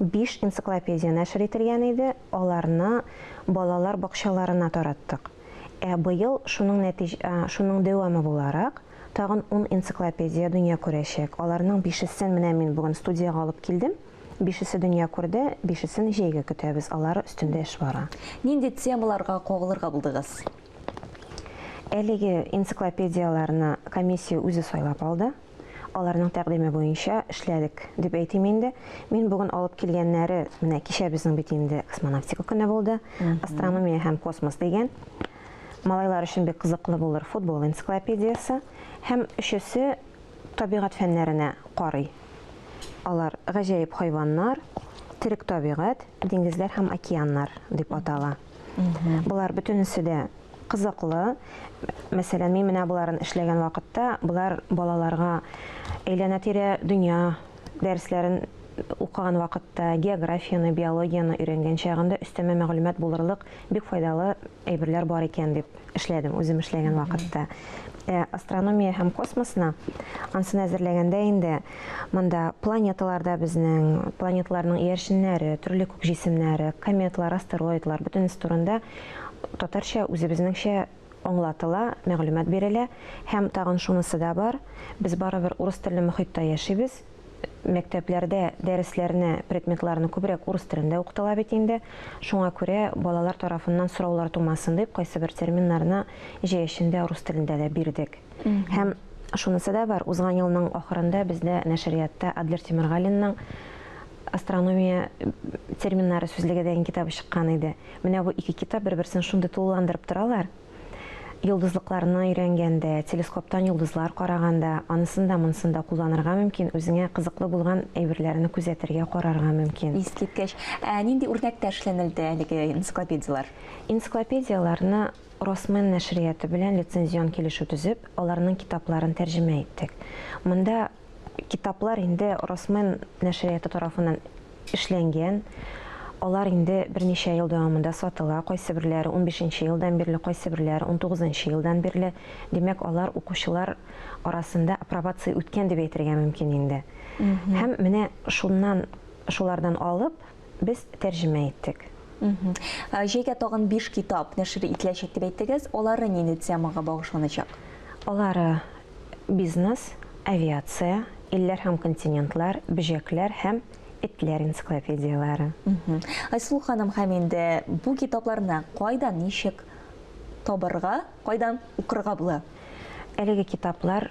биш энциклопедия нәшер ителгән иде, аларны балалар бакчаларына тараттык. Ә быел шуның нәтиҗ шуның дәвамы буларак, тагын ун энциклопедия дөнья күрәчәк. Аларның бишесен менә мин бүген студиягә алып килдем. Бишесе дөнья күрде, бишесен җәйгә көтәбез, алар өстендә эш бара. Нинди темаларга кагылырга булдыгыз? Әлеге энциклопедияләрне комиссия үзе сайлап алды. Аларның тәкъдиме буенча эшләдек, дип әйтим инде. Мин бүген алып килгәннәре, менә кичә безнең бит инде космонавтика көне булды, астрономия һәм космос дигән. Малайлар өчен бик кызыклы булыр футбол энциклопедиясе. Һәм өчесе табигать фәннәренә карый. Алар гаҗәеп хайваннар, терек табигать, диңгезләр һәм океаннар дип атала. Болар бөтенесе дә кызыклы. Мәсәлән, мин менә боларын эшләгән вакытта, болар балаларга әйләнә-тирә дөнья дәресләрен укыган вакытта, географияне, биологияне өйрәнгән чагында өстәмә мәгълүмат булырлык бик файдалы әйберләр бар икән дип эшләдем, үзем эшләгән вакытта. Ә астрономия һәм космосны ансын әзерләгәндә инде монда планеталарда безнең, планеталарның иярченнәре, төрле күк җисемнәре, кометлар, астероидлар, бөтенесе турында татарча үзебезнеңчә аңлатыла, мәгълүмат бирелә. Һәм тагын шунысы да бар, без барыбер урыс телле мохитта яшибез, мәктәпләрдә дәресләрне, предметларны күбрәк урыс телендә укытыла бит инде, шуңа күрә балалар тарафыннан сораулар тумасын дип, кайсыбер терминнарны җәй эчендә рус телендә дә бирдек. Һәм шунысы да бар, узган елның ахырында бездә нәшриятта Адлер Тимергалинның Астрономия терминнары сүзлеге дигән китабы чыккан иде. Менә бу ике китап бер-берсен шундый тулыландырып торалар. Йолдызлыкларны өйрәнгәндә, телескоптан йолдызлар караганда, анысын да, монысын да кулланырга мөмкин, үзеңә кызыклы булган әйберләрне күзәтергә, карарга мөмкин. Искиткеч! Ә нинди үрнәктә эшләнелде әлеге энциклопедияләр? Энциклопедияләрне Росмен нәшрияты белән лицензион килешү төзеп, аларның китапларын тәрҗемә иттек. Монда Китаплар инде Росмен нәшрияты тарафыннан эшләнгән. Алар инде берничә ел дәвамында сатыла, кайсыберләре унбишенче елдан бирле, кайсыберләре унтугызынчы елдан бирле. Димәк, алар укучылар арасында апробация үткән дип әйтергә мөмкин инде. Һәм менә шуннан, шулардан алып, без тәрҗемә иттек. Җәйгә тагын биш китап нәшер ителәчәк дип әйттегез. Алары нинди темага багышланачак? Алары бизнес, авиация, илләр һәм континентлар, бөҗәкләр һәм этләр энциклопедияләре. Айсылу ханым, һәм инде бу китапларны кайдан, ничек табарга, кайдан укырга була? Әлеге китаплар